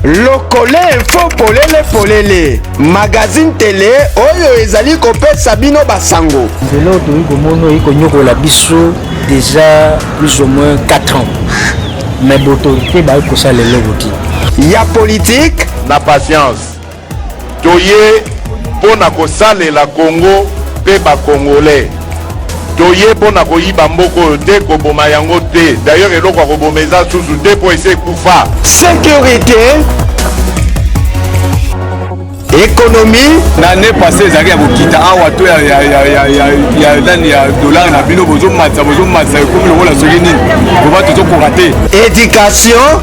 lokole info polele polele magazine tele oyo ezali kopesa bino basango lelo toyei komona oyi konyokola biso deja plus ou moins 4 ans mais botorite bayi kosala eloko te ya politike na patience Toye mpo na kosalela Congo mpe ba Congolais. Toye mpo na koyiba mboka oyo te, koboma yango te. D'ailleurs eloko ya koboma eza susu te mpo esi ekufa. Securite, economie. Na annee passee ezalaki ya kokita awa to ya ya ya ya ya ya nani ya dollar na bino bozo matisa bozo matisa ekomi lokola soki nini. Boba tozo koka te. Education,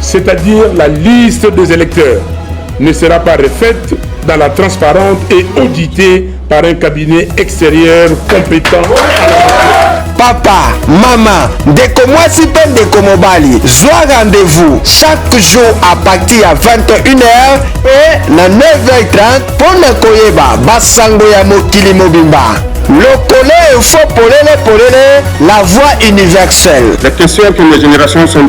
c'est-à-dire la liste des électeurs, ne sera pas refaite dans la transparente et auditée par un cabinet extérieur compétent. papa mama ndeko mwasi mpe ndeko mobali zwa rendez-vous chaque jour à partir ya 21h e na 9h30 mpo na koyeba basango ya mokili mobimba lokolo efo polele polele la voix universelle La question que les générations sont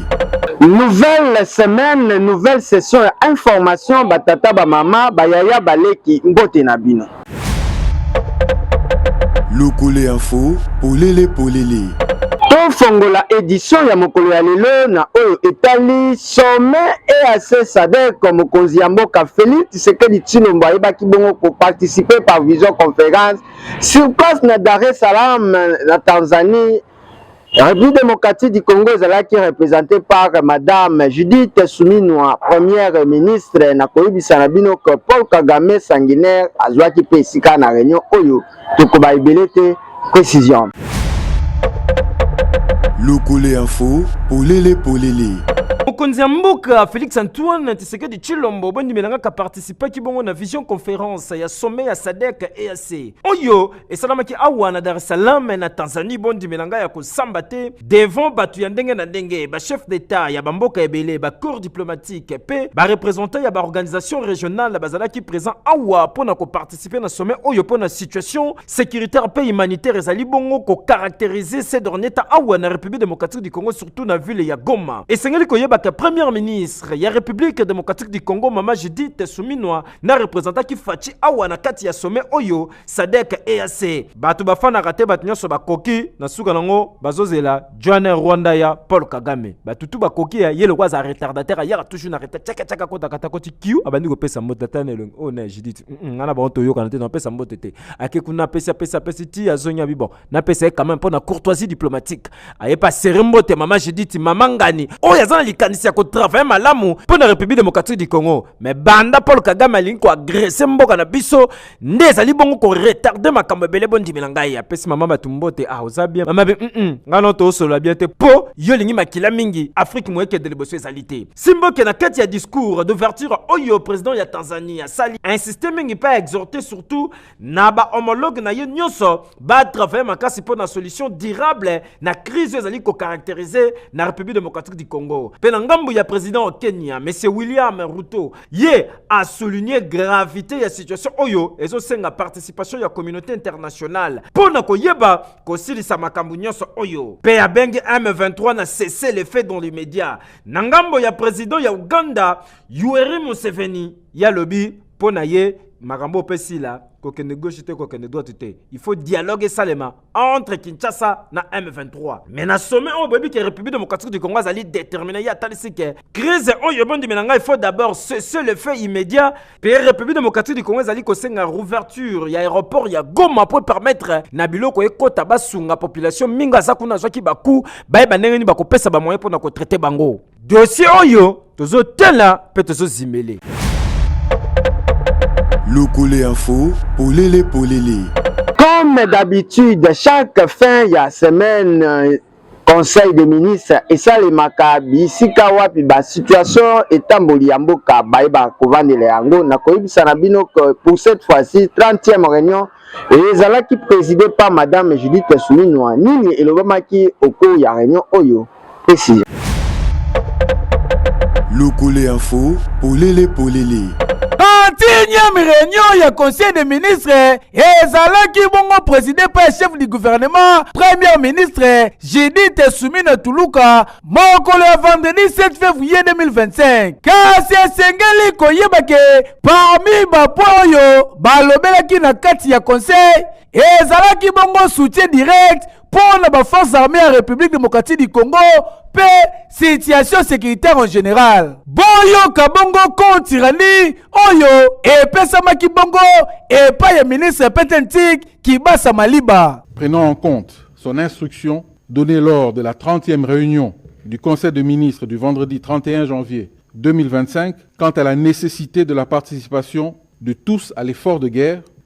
Nouvelle semaine, nouvelle session ya information batata ba mama bayaya baleki mbote na bino. Lokole info polele polele. Tofongola edition ya mokolo ya lelo na oyo etali sommet EAC SADC. Mokonzi ya mboka Felix Tshisekedi Tshilombo ayebaki bongo ko participer par vision conference sur place na Dar es Salaam na Tanzanie République démocratique du Congo ezalaki représentée par Madame Judith Suminwa, première ministre. Na koyebisa na bino que Paul Kagame sanguinaire azwaki mpe esika na réunion oyo tokoba ebele te précision. Lokole info, polele polele. mokonzi ya mboka félix antoine tshisekedi tshilombo bondimelangaka participaki bongo na vision conférence ya sommet ya sadek eac oyo esalamaki awa na dar es salaam na tanzanie bondimela ngai ya kosamba te devant bato ya ndenge na ndenge bachef d'etat ya bamboka ebele bacour diplomatique mpe barepresentant ya baorganisation régionale bazalaki présent awa mpo na koparticipe na sommet oyo mpo na situation sécuritaire mpe humanitaire ezali bongo kocaractérise ce dernier temps awa na république démocratique du congo surtout na ville ya goma esengeli koyebaka première ministre ya république démocratique du congo mama judith suminwa na representaki faci awa na kati ya sommet oyo sadek eac bato bafanaka te bato nyonso bakoki na suka nango bazozela joane rwanda ya paul kagame bato tu bakoki ya ye lokola aza retardateur ayaka toujours na retard tiaka tiaka kota kata koti kiu abandi kopesa mbote ata na elongi oyo oh, na judith ngai na bango toyokana te napesa mbote te ake kuna apesi apesi apesi ti azongi abi bon napesa ye quand même mpo na courtoisie diplomatique ayebi asere mbote mama judith mama ngani oyo aza na likanisi ya kotravaille malamu mpo na république démocratique du congo mais banda paul kagame alingi koagrese mboka na biso nde ezali bongo koretarde makambo ebele bondimela ngai apesi mama bato mbote ah oza bien mama bi mm ngai no toosolola bien te mpo yo olingi makila mingi afrique moyekende liboso ezali te simboke na kati ya discours d'ouverture oyo président ya tanzanie asali insiste mingi mpe aexhorte surtout na ba homologue na ye nyonso ba travailler makasi mpo na solution durable na crise ezali ko caractériser na République démocratique du Congo. Mpe na ngambo ya président wa Kenya, Monsieur William Ruto, ye a souligner gravité ya situation oyo ezosenga participation ya communauté internationale mpo na koyeba kosilisa makambo nyonso oyo. Mpe abengi M23 na cesser le feu dans les médias. Na ngambo ya président ya Ouganda, Yoweri Museveni, ye alobi mpo na ye makambo oyo mpe sila kokende gauche te kokende droite te il faut dialogue esalema entre kinshasa na m23 mais na sommet oyo boyebi ke république démocratique du congo azali déterminé ye atalisi ke crise oyo bondimela ngai il faut d'abord cesser le fait immédiat mpe république démocratique du congo ezali kosenga rouverture ya aéroport ya goma mpo epermettre na biloko ekota basunga population mingi aza kuna azwaki baku bayeba ndenge nini bakopesa bamoyen mpo na kotraite bango dosie oyo tozotala mpe tozozimele lokole info polele polele comme d'habitude chaque fin ya semaine conseil des ministres esalemaka bisika wapi basituation etamboli ya mboka bayeba kovandela yango na koyebisa na bino que pour cette fois-ci 30e réunion ezalaki préside par madame judith suminwa nini elobamaki au cours ya réunion oyo pesi Lokole Info, polele polele. Antinyami reunion ya conseil des ministres ezalaki bongo preside mpe ya chef du gouvernement premier ministre judith sumina tuluka mokolo ya vendredi 7 février 2025 kasi esengeli koyeba ke parmi bapo oyo balobelaki na kati ya conseil ezalaki bongo soutien direct mpo na ba forces armées ya Republique démocratique du Congo mpe situation sécuritaire en général. Boyoka bongo compte rendu oyo epesamaki bongo epai ya ministre Petentik Kibasa Maliba. Prenant en compte son instruction donnée lors de la 30e réunion du Conseil des ministres du vendredi 31 janvier 2025 quant à la nécessité de la participation de tous à l'effort de guerre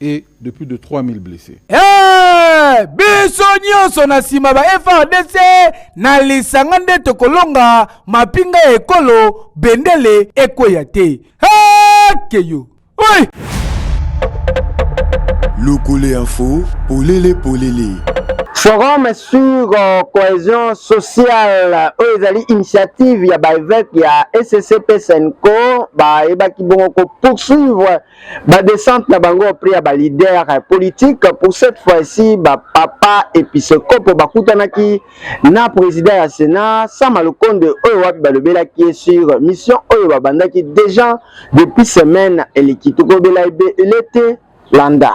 et de plus de 3000 blessés. Hey, biso nyonso na nsima ba FRDC na lisanga nde tokolonga mapinga ya ekolo bendele ekweya te hakeyo oi lokole info polele polele forum sur euh, cohésion sociale oyo ezali initiative ya baeveke ya ssp senco bayebaki bongo kopoursuivre ba descente na bango auprès ya ba leader politique pour cette fois-ci ba papa episkopo bakutanaki na président ya Sénat Sama Lukonde oyo wapi balobelaki ye sur mission oyo babandaki déjà depuis semaine eleki tokobela ebele te landa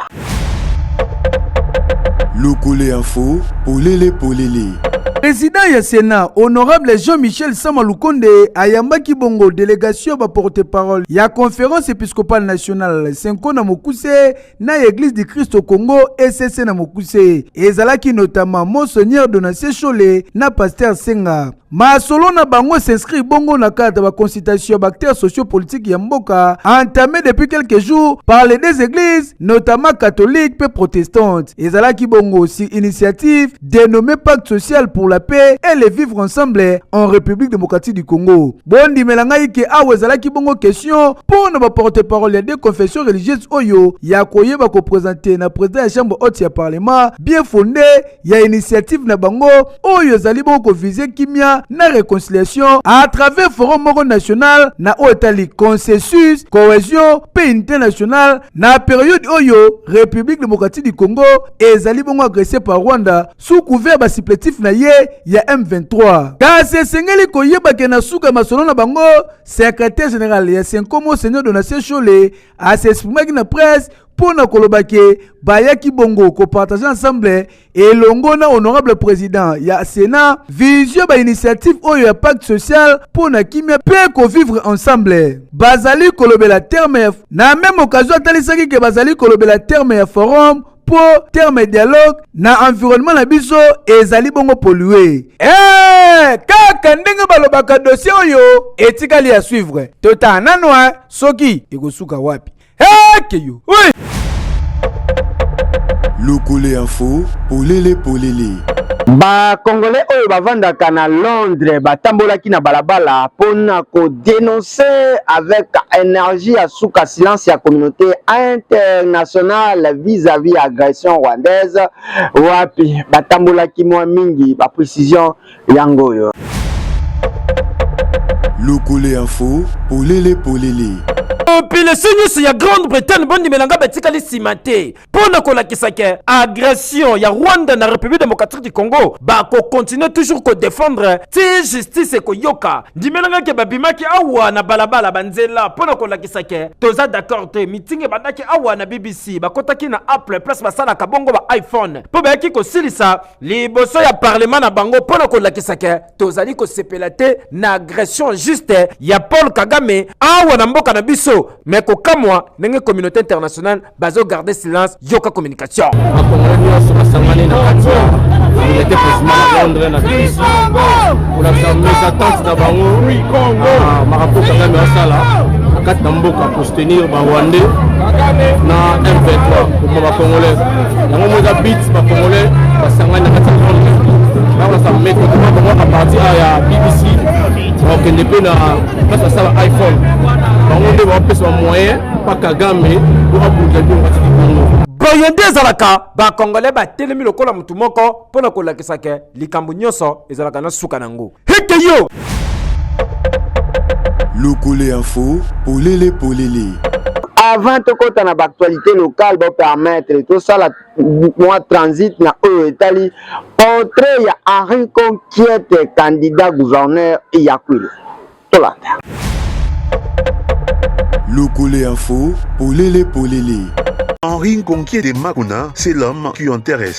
Lokole info, polele polele. President ya Senat, honorable Jean-Michel Sama Lukonde ayambaki bongo delegation ba porte-parole ya Conférence épiscopale nationale Senko na Mokuse na Église du Christ au Congo ECC na Mokuse. Ezalaki notamment Monseigneur Donatien Shole na Pasteur Senga. Masolo na bango s'inscrire bongo na cadre ba consultation ya ba acteurs sociopolitiques ya mboka entamé depuis quelques jours par les deux églises notamment catholique mpe protestante. Ezalaki bongo si initiative dénommée pacte social pour la paix et le vivre ensemble en République démocratique du Congo. Bondimela ngai ke awa ezalaki bongo question mpo na ba porte-parole ya deux confessions religieuses oyo ya koyeba ko presenter na president ya chambre haute ya parlement bien fondé ya initiative na bango oyo ezali bongo kovize kimia na reconciliation à travers forum moko national na oyo etali consensus cohesion mpe unité nationale na periode oyo république démocratique du congo ezali bongo agresse par rwanda sous couvert basiplatif na ye ya m23 kasi esengeli koyeba ke na suka ya masolo na bango secrétaire général ya senkomo seigneur donatien shole asexprimaki na presse mpo na koloba ke bayaki bongo kopartage ensemble elongo na honorable président ya sénat visio bainitiative oyo ya pacte social mpo na kimia mpe kovivre ensemble bazali kolobela terme ya na meme occasion atalisaki ke bazali kolobela terme ya forum mpo terme dialogue na environnement na biso ezali bongo polue hey, kaka ndenge balobaka dossier oyo etikali ya suivre totala nano soki ekosuka wapi ekeyo oui. lokole info polele polele bakongole oyo bavandaka na londres batambolaki na balabala mpo na kodenonse avec energie ya suka silence ya communauté internationale vis-à-vis agression rwandaise wapi batambolaki mwa mingi baprécision yango oyo. Lokole info polele polele. Population nyonso ya Grande Bretagne bondimela nga batikali nsima te mpo na kolakisa ke agression ya Rwanda na République démocratique du Congo bakokontinue toujours kodefendre ti justice ekoyoka. Ndimela nga ke babimaki awa na balabala banzela mpo na kolakisa ke toza d'accord te. Meeting ebandaki awa na BBC bakotaki na Apple place basalaka bongo ba iPhone mpo bayaki kosilisa liboso ya parlema na bango mpo na kolakisa ke tozali kosepela te na agression juste ya paul kagame awa na mboka na biso me kokamwa ndenge communauté internationale bazogarde silence yoka communication bakongole nyonso basangani na kati ya communauté president na londres na biso kolakisa mes attentes na bango ah, marapo kagame asala na kati na mboka kostenir barwandais na m23 kokoma bakongolais yango moko eza bit bacongolais basangani na kati ya monde bakolasa meko tuma bango a partir ya bbc bakokende mpe na place basala iphone bango nde bakopesa bamoyen mpa kagame po abundisa bino kati likongo boye nde ezalaka bacongolais batelemi lokola motu moko mpo na kolakisa ke likambo nyonso ezalaka na suka na yango Heke yo Lokole info, polele polele. Avant tokota na b'actualité locale ba permettre tosala mwa transit na oyo etali portrait ya Henri Conquiete candidat gouverneur ya Kwilu. Tolanda. Lokole info, polele polele. Henri Conquiete Makuna, c'est l'homme qui intéresse.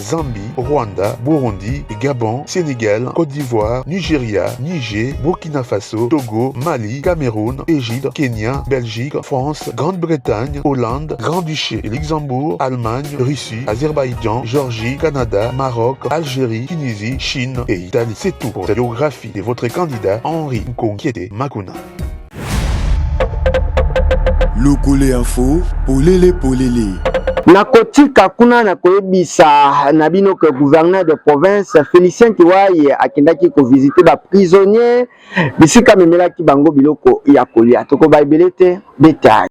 Zambie, Rwanda, Burundi, Gabon, Senegal, Côte d'Ivoire, Nigeria, Niger, Burkina Faso, Togo, Mali, Cameroun, Égypte, Kenya, Belgique, France, Grande-Bretagne, Hollande, Grand-Duché, Luxembourg, Allemagne, Russie, Azerbaïdjan, Georgie, Canada, Maroc, Algérie, Tunisie, Chine et Italie. C'est tout pour la biographie de votre candidat Henri Nkongiete Makuna. Lokole info, polele polele. nakotika kuna nakoyebisa na bino ke gouverneur de province félicien kiwaye akendaki kovisite baprisonnier bisika amemelaki bango biloko ya kolia tokoba ebele te detail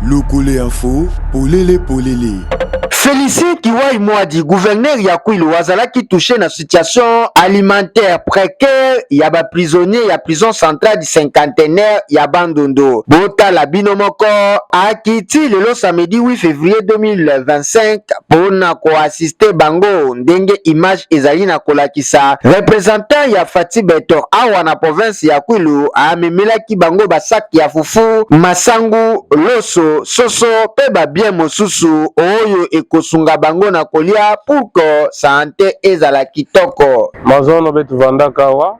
Lokole info, polele polele. Felicien Kiwai Mwadi, gouverneur ya Kwilu, azalaki touche na situation alimentaire précaire ya ba prisonniers ya prison centrale du cinquantenaire ya Bandundu. Botala bino moko, akiti lelo samedi 8 février 2025 pona ko assister bango ndenge image ezali na kolakisa, representant ya Fatsi Beton awa na province ya Kwilu amemelaki bango ba sacs ya fufu, masangu, loso, soso pe ba biens mosusu oyo ekosunga bango na kolia pour que sante ezala kitoko. Mazono betu vandaka awa.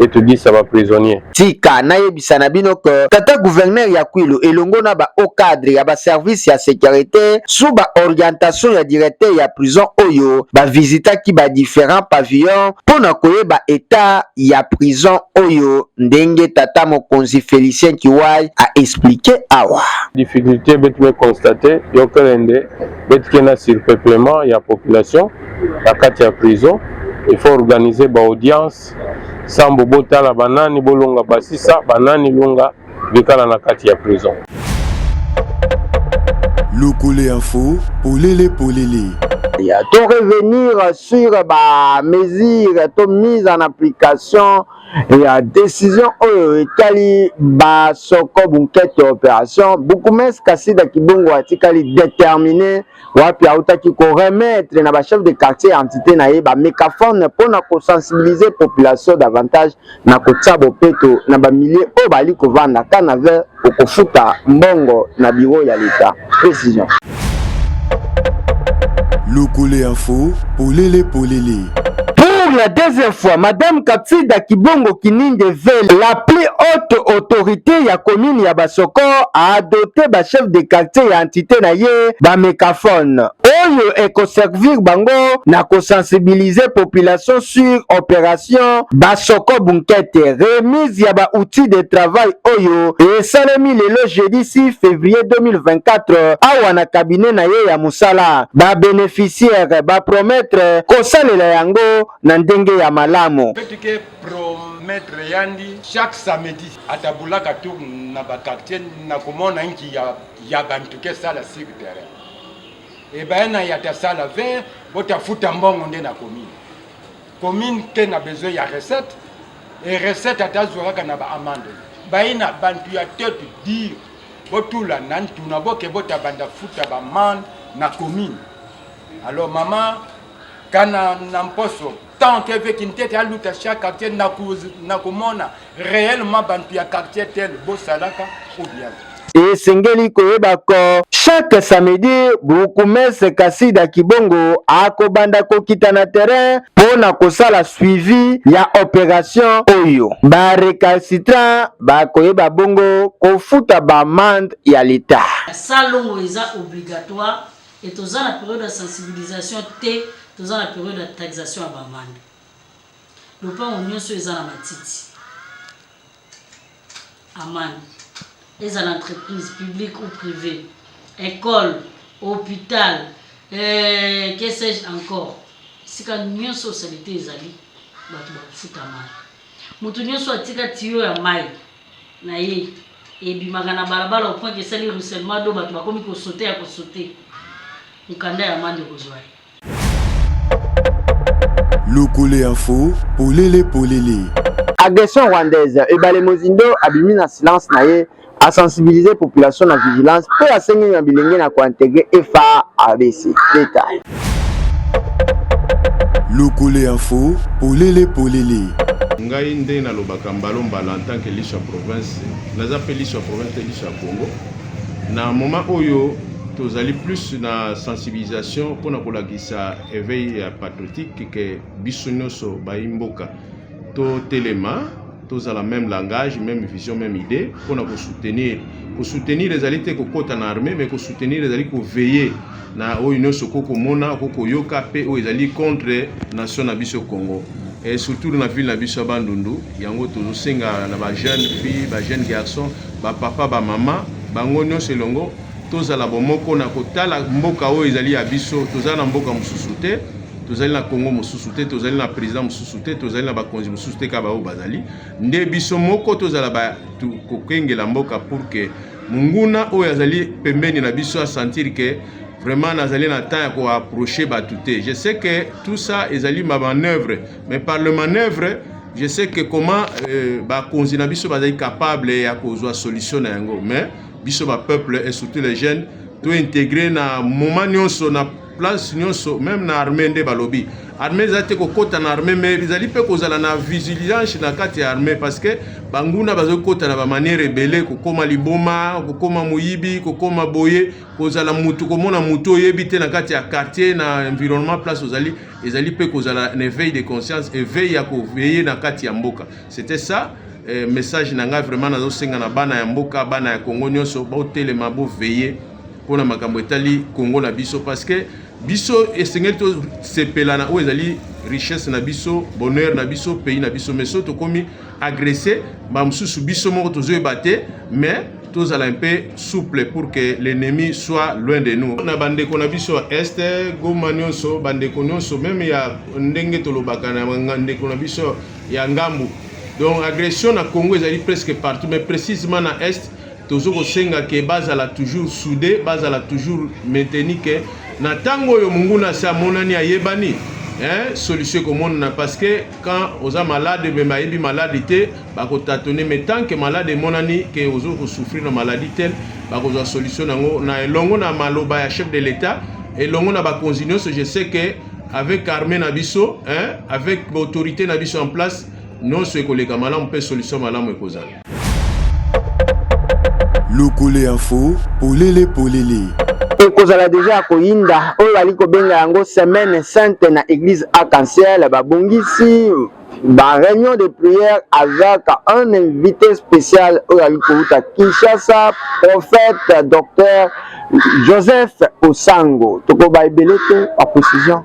et tu dis ça va prisonnier. Tika nayebisa na bino que tata gouverneur ya Kwilu elongo na ba haut cadre ya ba service ya sécurité sous ba orientation ya directeur ya prison oyo ba visitaki ba différents pavillons mpo na koyeba état ya prison oyo ndenge tata mokonzi Felicien Kiwai a expliqué awa. Difficulté beti be constater yokelende beti kena surpeuplement ya population na kati ya prison il faut organiser ba audience Bas sambo botala banani bolonga basisa banani longa bikala na kati ya prison. Lokole info polele polele. Ya to revenir sur ba mesures to mise en application ya decision oyo etali ba soko bunkete operation bukumes kasida kibungu atikali determine wapi autaki ko remettre na ba chef de quartier ya entité na ye ba mégaphone mpo na ko sensibiliser population davantage na kotia bopeto na ba milieu oyo bali kovanda ka na ver okofuta mbongo na bureau ya leta précision Lokole Info, polele polele. Pour la deuxième fois, Madame Kapsida Kibongo Kininge Vele, la plus haute autorité ya commune ya Basoko, a adopté ba chef de quartier ya entité na ye ba mécaphone oyo ekoservir bango na kosensibiliser population sur opération Basoko Bunkete. Remise ya ba outils de travail oyo esalemi lelo jeudi 6 février 2024 awa na cabinet na ye ya kosala, ba beneficiaires ba promettre kosalela yango na ndenge ya malamu. Promettre yandi chaque samedi atabulaka tour na ba quartier na komona nki ya, ya bantu ke sala sur terrain ebaye na yata sala 20 botafuta mbongo nde na commune Commune te na besoin ya recette et recette ata azwa kaka na ba amande. Bayina bantu ya tete dire botula na ntuna boke botabanda futa ba man na commune. Alors maman kana na mposo tant que veki ntete aluta chaque quartier na kumona Reellement bantu ya quartier tel bosalaka ou bien? esengeli koyeba ko chaque samedi bourgmestre Kasida Kibongo akobanda kokita na terrain mpo na kosala suivi ya operation oyo. Ba recalcitrants bakoyeba bongo kofuta ba amende ya l'Etat. Salongo eza obligatoire et toza na periode ya sensibilisation te, toza na periode ya taxation ya ba amende. lopango nioso eza na matiti amani ezala entreprise publique ou privée ecole hôpital euh, que sais-je encore esika nyonso salite ezali bato bakofuta mai moto nyonso atika tiyo ya mai na ye ebimaka na balabala au point que esali ruissellement do bato bakomi kosote ya kosote mokanda ya mande kozwa ye Lokole info, polele polele. Agression rwandaise, Ebale Mozindo abimi na silence na ye, a sensibiliser population na vigilance mpe asengi na bilenge na ko integrer FARDC. Detail. Lokole info, polele polele. ngai nde nalobaka mbalo mbala en tant que lisu ya province naza pe lisu ya province te lisu ya congo Na moment oyo tozali plus na sensibilisation mpo na kolakisa eveil ya patriotique ke biso nyonso bayi mboka totelema tozala même langage même vision même idée mpo na kosoutenir kosoutenir ezali te kokota na armée mais kosoutenir ezali koveiller na oyo nyonso okoki komona okoki koyoka mpe oyo ezali contre nation na biso congo et surtout na ville na biso ya bandundu yango tozosenga na bajeune fille bajeune garçon bapapa bamama bango nyonso elongo tozala bomoko na kotala mboka oyo ezali ya biso tozala na mboka mosusu te tozali na congo mosusu te tozali na président mosusu te tozali na bakonzi mosusu te kaka baoyo bazali nde biso moko tozala kokengela mboka pour que monguna oyo azali pembeni na biso asentir ke vraiment nazali na temps ya koapproche bato te je sais que tout ça ezali ma manœuvre mais par le manœuvre je sais que comment euh, bakonzi na biso bazali capable ya kozwa solution na yango mais biso bapeuple et surtout les jeunes tointegre na moment nyonso na place nyonso meme na armée nde balobi armée eza te kokota na armée mais ezali mpe kozala na vigilance na kati ya armée parce que banguna bazali kota na bamaniere ebele kokoma liboma kokoma moyibi kokoma boye kozala mutu komona mutu oyebi te na kati ya quartier na environnement place ozali ezali mpe kozala na éveil de conscience éveil ya koveye na kati ya mboka c'était ça eh, message na ngai vraiment nazosenga na bana ya mboka bana ya kongo nyonso botelema boveye mpo na makambo etali Congo na biso parce que biso esengeli tosepela na oyo ezali richesse na biso bonheur na biso pays na biso mais so tokomi agresse mbala mosusu biso moko tozoyeba te mais tozala un peu souple pour que l'ennemi soit loin de nous na bandeko na biso ya est goma nyonso bandeko nyonso meme ya ndenge tolobaka na ndeko na biso ya ngambu donc agression na congo ezali presque partout mais précisément na est tozo kosenga ke bazala toujours soude bazala toujours mainteni ke na ntango oyo monguna asi amonani ayebani eh, solution ekomonana parce que quand oza malade me bayebi maladi te bakotatone me tant que malade emonani ke ozo kosouffrir na maladi te bakozwa solution yango na elongo na maloba ya chef de l'etat elongo na bakonzi nyonso je sais que avec armée na biso eh, avec baautorité na biso en place nyonso ekoleka malamu mpe solution malamu ekozala Lokole info, polele polele. ekozala deja ya koyinda oyo bali kobenga yango semaine sainte na église arc-en-ciel babongisi ba réunion de prière avec un invité spécial oyo ali kowuta kinshasa prophète docteur joseph osango tokoba ebele te ba précision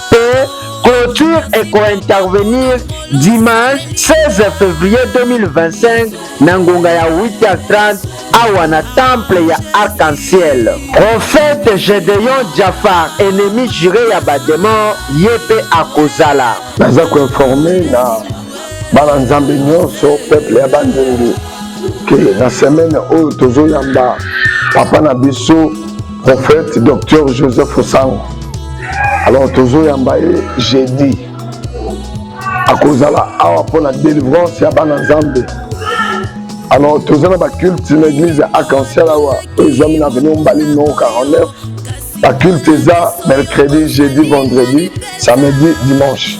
mpe clôture ekointervenir dimanche 16 février 2025 na ngonga ya 8h30 awa na temple ya arc-en-ciel profete gedeon jafar ennemi jure ya bademon ye mpe akozala naza koinforme na bana nzambe nyonso peuple ya bandundu ke na semaine oyo tozoyamba papa na biso prophète docteur joseph osango alors tozoyamba ye jeudi akozala awa mpo na délivrance ya bana nzambe alors toza na baculte na église ya arc-en-ciel awa oyo ezwami na avenue mbali no 49 baculte eza mercredi jeudi vendredi samedi dimanche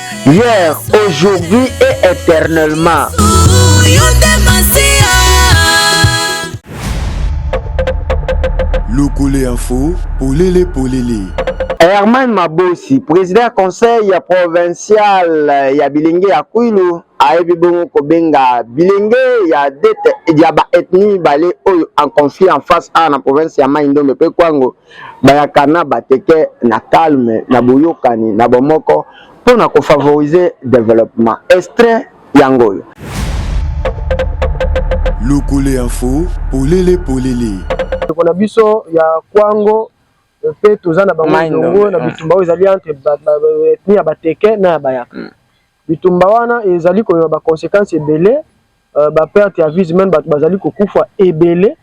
hier aujourd'hui et éternellement lokole info polele polele herman mabosi président ya conseil ya provincial ya bilenge ya kwilu ayebi bongo kobenga bilenge ya dete ya baethnie mibale oyo en conflit en face awa na province ya mai ndombe mpe kwango bayaka na bateke na calme na boyokani na bomoko mpo na kofavorize developema estre yango oyo lokole info polele polele ndeko na biso ya kwango mpe toza na bango elongo na bitumba oyo ezali entre etni ya bateke na ya bayaka mm. Bitumba wana ezali koyeba ba consequences ebele, euh, ba perte ya vies humaines, bato bazali kokufa ebele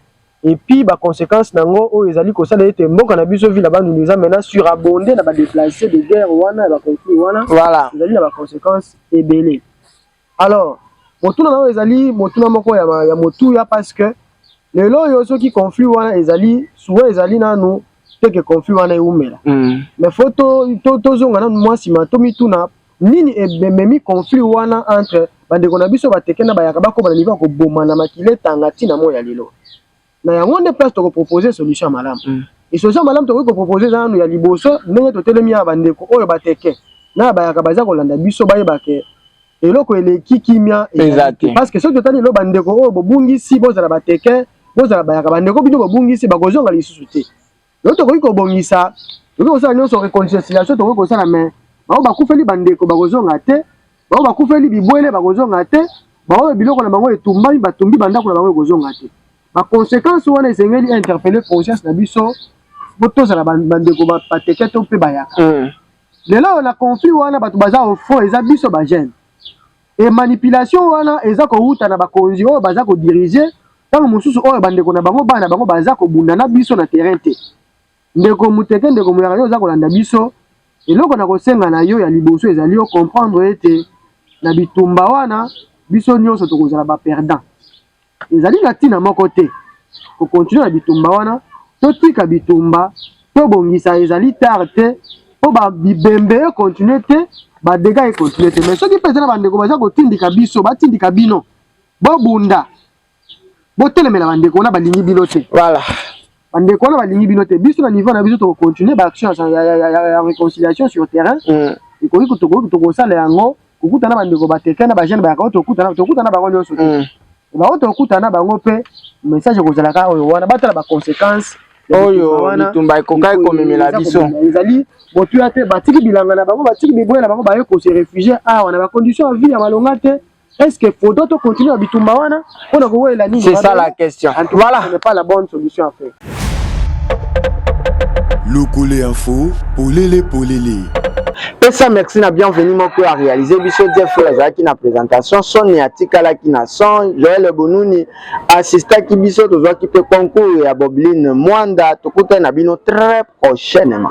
et puis ba consequences nango oyo ezali kosala ete mboka na biso ville ya Bandundu eza maintenant surabondée na ba déplacés de guerre wana ya ba conflits wana voilà. ezali na ba consequences ebele alors motuna na oyo ezali motuna moko ya, ya motuya parce que lelo oyo soki conflit wana ezali suwa ezali nanu teke conflit wana ewumela mm. mais fo tozonga to, to nanu mwa nsima tomituna Nini ememi conflit wana entre bandeko na biso bateke na bayaka bakoma na niveau ya kobomana makila etanga ti na moi ya lelo na yango nde place toko proposer solution ya malamu mm. e solution ya malamu tokoki koproposer eza nanu ya liboso ndenge totelemi ya bandeko oyo bateke na bayaka baza kolanda biso bayeba ke eloko eleki kimia eza te parce que soki totali elo bandeko oyo bobungisi bozala bateke bozala bayaka bandeko bino bobungisi bakozonga lisusu te Yo tokoki kobongisa, tokoki kosala nyonso reconciliation tokoki kosala mais bao bakufeli bandeko bakozonga te, bao bakufeli bibwele bakozonga te, baoyo biloko na bango etumbami batumbi bandako na bango ekozonga te. Ba conséquences wana esengeli interpeller conscience na biso po tozala bandeko bateke to mpe bayaka. Mm. Lelo na conflit wana bato baza au fond eza biso ba jeunes. Et manipulation wana eza kowuta na bakonzi oyo baza ko diriger ntango mosusu oyo bandeko na bango bana na bango baza kobunda na biso na terrain te ndeko muteke ndeko muyaka yo oza kolanda biso eloko na kosenga na yo ya liboso ezali yo comprendre ete na bitumba wana biso nyonso tokozala ba perdant Ezali na ntina moko te kokontinue na bitumba wana. Totika bitumba, tobongisa, ezali tard te mpo bibembe ekontinue te, badega ekontinue te. Me soki mpe eza na bandeko baza kotindika biso, batindika bino bobunda, botelemela bandeko wana balingi bino te. Voilà. bandeko wana balingi bino te biso na niveau na biso tokocontinue baaction ya réconciliation sur terrain mm. ekoki tokoki tokosala yango kokutana bandeko bateka na bajeune bayaka tokutana tokutana bango nyonso te mm. bango tokutana bango mpe message ekozala kaka oyo wana batala baconséquence oyo bitumba ekokaki komemela biso ezali motuya te batiki bilanga na bango batiki biboya na bango baye kose réfugie awa na bacondition ya vie ya malonga te Est-ce que Fodo to continuer bitumba wana pona ko wela nini? C'est ça la question. Voilà. Ce n'est pas la bonne solution à faire. Lokole info, polele polele. pesa merci na bienvenu moko ya réalise biso jeff oyo azalaki na présentation soni atikalaki na son joel bonuni assistaki biso tozwaki mpe concours ya bobline mwanda tokutani na bino très prochainement